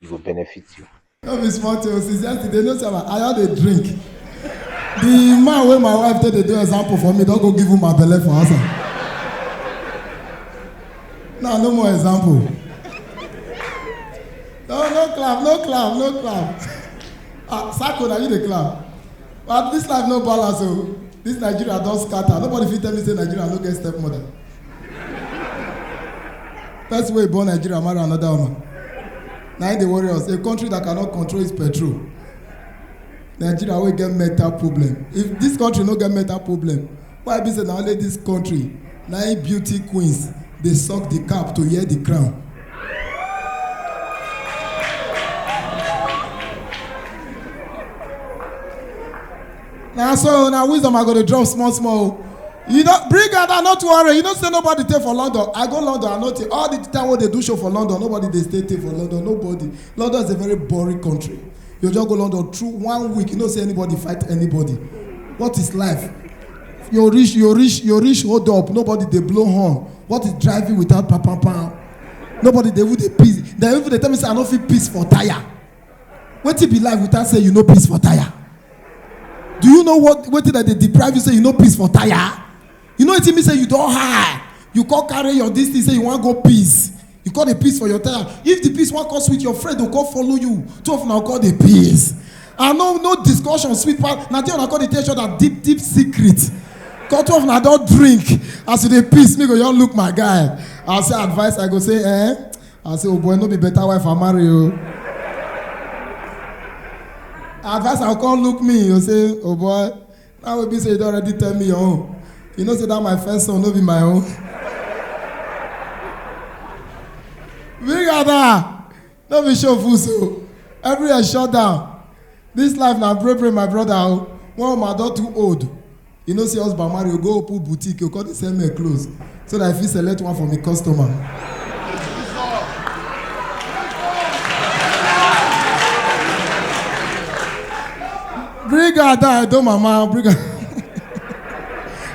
e go benefit you. No be small thing o, since yesterday, no sir, I just dey drink. The man wey my wife take dey do example for me don go give woman belle for house. Now no more example. No no clap, no clap, no clap. Ah, Sako na you dey clap. But this life no balance o. This Nigeria don scatter. Nobody fit tell me say Nigeria no get stepmother. person wey born nigeria marry another woman na im dey worry us a country that cannot control its petrol nigeria wey get mental problem if this country no get mental problem why be say na only this country na im beauty queens dey suck the cap to hear the crown na so na wisdom i go dey drop small small o you don bring am down no too worry you know say nobody dey for london i go london i no take all the time wey dey do show for london nobody dey stay take for london nobody london is a very boring country you just go london through one week you know say anybody fight anybody what is life you reach you reach you reach hold up nobody dey blow horn what is driving without pam pam pam nobody dey even dey piss dem even dey tell me say i no fit piss for tire wetin be life without say you no piss for tire do you know what wetin dem dey deprive you say you no piss for tire you know wetin mean say you don high you come carry your dis thing say you wan go piss you come dey piss for your tire if the piss wan come sweet your friend go come follow you two of una go come dey piss and no no discussion sweet pass na there una come dey tell each other deep deep secret come two of una don drink as you dey piss me go just look my guy i say advice i go say eh I say, oh boy, no be better wife I marry you. Advice I come look me, you say, oh boy, now will be say you don already tell me your own. You know say that my first son no be my own. Big Ada, no be show full so. Everywhere shut down. This life na break break my brother o. One woman don too old. You know say husband marry, you go open boutique, you come dey sell men clothes so that I fit select one for me customer. Bring her down, don't mama, bring her.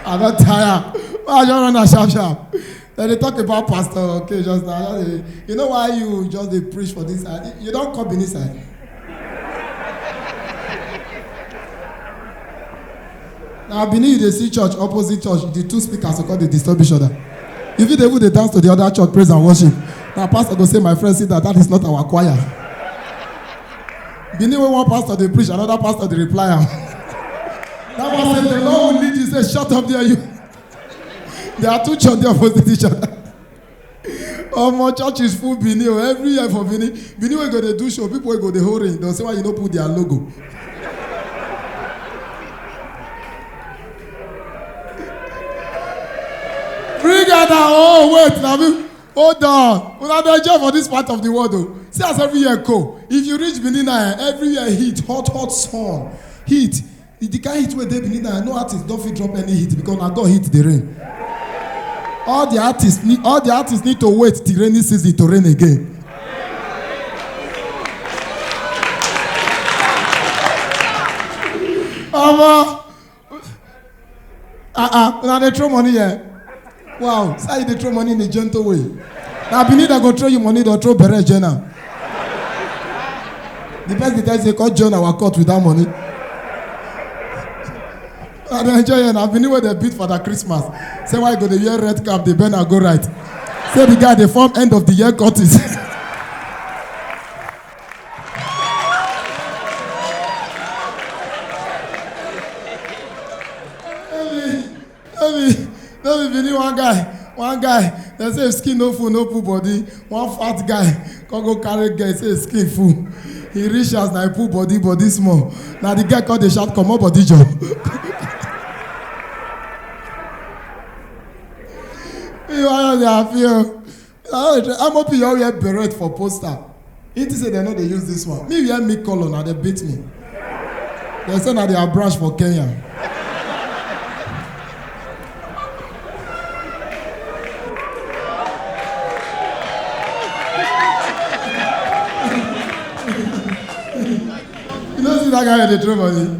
I don tire. Why I just run am sharp sharp? dem dey talk about pastor okay just now just dey you know why you just dey preach for this side you don come benin side na benin you dey see church opposite church the two speakers go come dey disturb each other you fit dey even dey dance to the other church praise and worship na pastor go say my friend sit down that is not our choir benin wey one pastor dey preach another pastor dey reply am that one say the lord will lead you say shut up there you. there are two church there opposite each other omo church is full benin o every year for benin benin wey go dey do show people wey go dey hold ring don say why you no put their logo bring out our own wait na me hold on una dey enjoy for this part of the world o see as every year go if you reach benin na eh, every year heat hot hot sun heat If the kind heat wey dey benin now no artist don fit drop any hit because na god hit the rain all the artists need all the artists need to wait till rainy season to rain again omo ah ah una dey throw money here Wow, so you dey throw money in a gentle way. Na Benin dem go throw you money, dem throw bere join am. The person dey tell you say come join our court with that money. I dey enjoy here na Benin wey dem beat for that Christmas. Say why you go dey wear red cap dey bend and go right. Say the guy dey form end of the year courtist. no be no be bini one guy one guy dem say skin no full no full body one fat guy come go carry girl say skin full he reach as na he pull body body small na the girl come dey shout comot body jor. you wan dey happy o. ah amop you all wear beret for poster he think say dem no dey use this one me wear me colour na dem beat me dem say na their branch for kenya you no see that guy wey dey throw money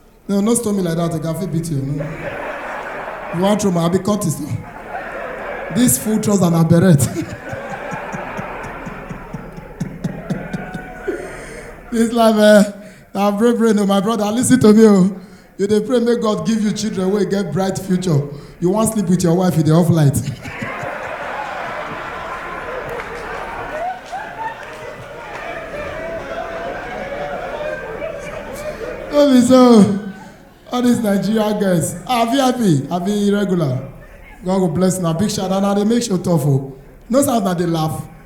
No, no stone me like that. I can fit beat you. No. You want throw my? I be Curtis. No. This full trousers and a beret. this life, eh? Now pray, pray, no, my brother. Listen to me, oh. You dey pray make God give you children wey get bright future. you wan sleep with your wife you dey off light. no be so all these nigeria girls ah vip abi irregular god go bless una big shout out na dey make show tough o no sound na dey laugh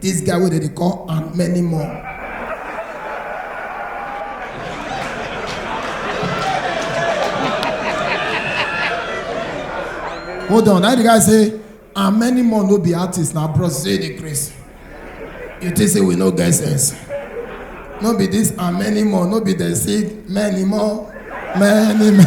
This guy wey dem dey call and many more. Hold on, now the guy say and many more no be artist na bros say dey craze. You think say we no get sense? No be this and many more, no be dem say many more, many more.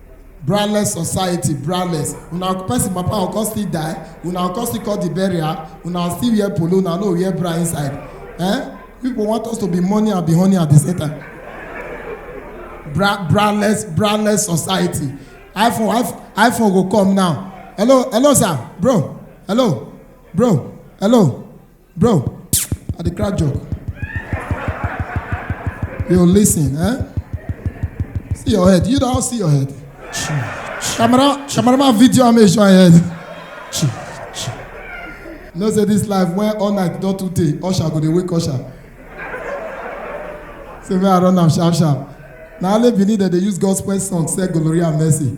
braless society braless una person papa go come still die una go come still call the burial una still wear polo una no wear bra inside eh people want us to be money and be honey at the same time bra braless braless society iphone iphone iphone go come now hello hello sir bro hello bro hello Bro, I dey crack joke. Yo, listen, eh? See your head. You don't see your head. Camera, cameraman video am make sure I head. You know say this life when all night don too tey, usher go dey wake usher. Say make I run am sharp sharp. Na only Benin dem dey use gospel song sell gonorrhea and mercy.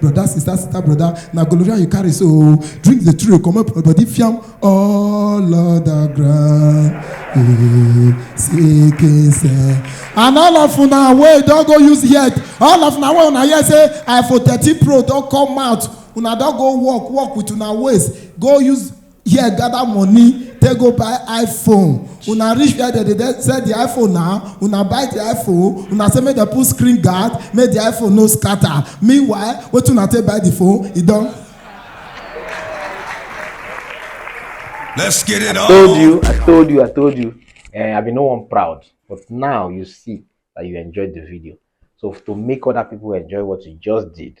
brother sister sister brother na gonorrhea you carry so drink the true comot for body fiam all other ground eh, seeking say and all of una wey don go use head all of una wey una hear say iphone thirteen pro don come out una don go work work with una waist go use here gather money take go buy iphone una reach where dem dey sell the iphone now una buy the iphone una say make dem put screen guard make the iphone no scatter meanwhile wetin una take buy the phone e don. Let's get it I told on. you, I told you, I told you. Eh, I've been no one proud, but now you see that you enjoyed the video. So to make other people enjoy what you just did,